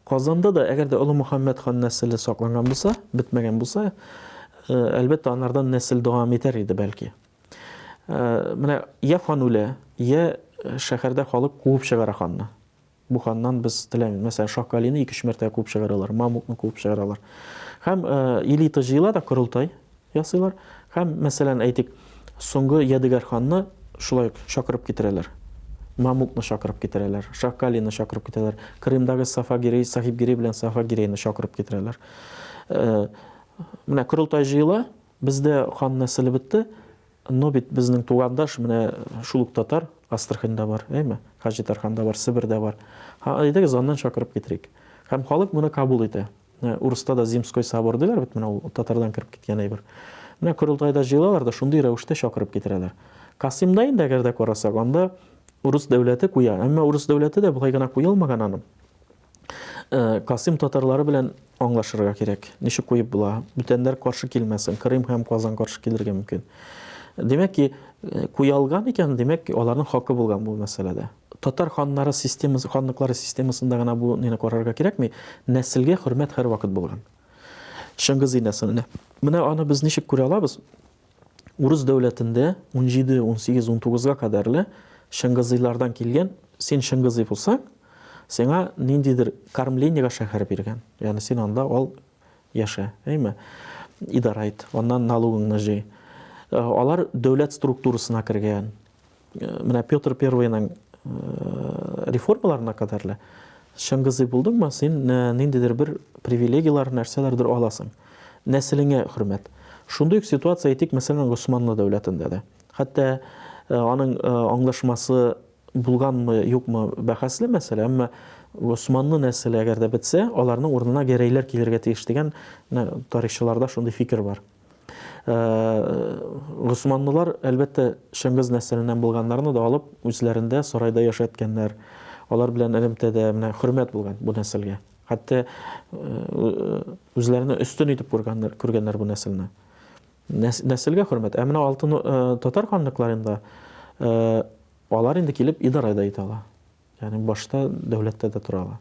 Казанда да, әгәр дә Олы Мөхәммәд хан нәселе сакланган булса, бетмәгән булса, э, әлбәттә, анардан нәсел дәвам итәр иде, бәлки. Э, менә я хан үлә, я э, шәһәрдә халык куып чыгара ханны. Буһаннан без теләми. Мәсәлән, Шакалины ике-өч мәртәбә куып чыгаралар, Мамукны куып чыгаралар. Һәм элита җыела да корылтай ясыйлар. Һәм, мәсәлән, әйтик, соңгы Ядегәр ханны шулай ук чакырып китерәләр. Мамукны чакырып китерәләр, Шакалины чакырып китерәләр, Крымдагы Сафагирей, Сахибгирей белән Сафагирейны чакырып китерәләр. Менә корылтай җыела, бездә хан нәселе бетте, Но бит безнең тугандаш менә шул ук татар Астраханьда бар, әйме? Хаҗитарханда бар, Себердә бар. Һа, әйдәгез аннан чакырып китерик. Һәм халык моны кабул итә. Менә урыста да Зимской собор диләр бит, менә ул татардан кереп киткән әйбер. Менә корылтайда җыелалар да шундый рәвештә чакырып китерәләр. Касыймда инде әгәр дә карасак, анда урыс дәүләте куя, әмма урыс дәүләте дә болай гына куелмаган аның. Касыйм татарлары белән аңлашырга кирәк. Ничек куеп була? Бүтәннәр каршы килмәсен. Крым һәм Казан каршы килергә мөмкин. Димәк ки, куя алган икән, димәк, аларның хакы булган бу мәсьәләдә. Татар ханнары системасы, ханлыклары системасында гына бу нине карарга кирәкми. Нәселгә хөрмәт һәрвакыт булган. Чыңгыз инәсенә. Менә аны без ничек күрә алабыз? Урыс дәүләтендә 17, 18, 19-га кадәрле Чыңгызыйлардан килгән, син Чыңгызый булсаң, сиңа ниндидер кормлениега шәһәр биргән. Ягъни син анда ал яшә, әйме? Идара ит, аннан налогыңны җый. Э, алар дәүләт структурасына кергән. менә Петр Первыйның реформаларына кадәр лә Чыңгызый булдыңмы, син ниндидер бер привилегияләр, нәрсәләрдер аласың. Нәселеңә хөрмәт. Шундый ук ситуация әйтик, мәсәлән, Госманлы дәүләтендә дә. Хәтта аның аңлашмасы булганмы, юкмы бәхәсле мәсьәлә, әмма Госманлы нәселе әгәр дә бетсә, аларның урынына гәрәйләр килергә тиеш дигән тарихчыларда шундый фикер бар. Госманлылар, әлбәттә, Чыңгыз нәселеннән булганнарны да алып, үзләрендә сарайда яшәткәннәр. Алар белән элемтәдә менә хөрмәт булган бу нәселгә. Хәтта үзләренә өстен итеп күргәннәр, күргәннәр бу нәселне. Нәселгә хөрмәт. Ә менә алтын татар ханлыкларында алар инде килеп идарә дә итә ала. Ягъни башта дәүләттә дә тора ала.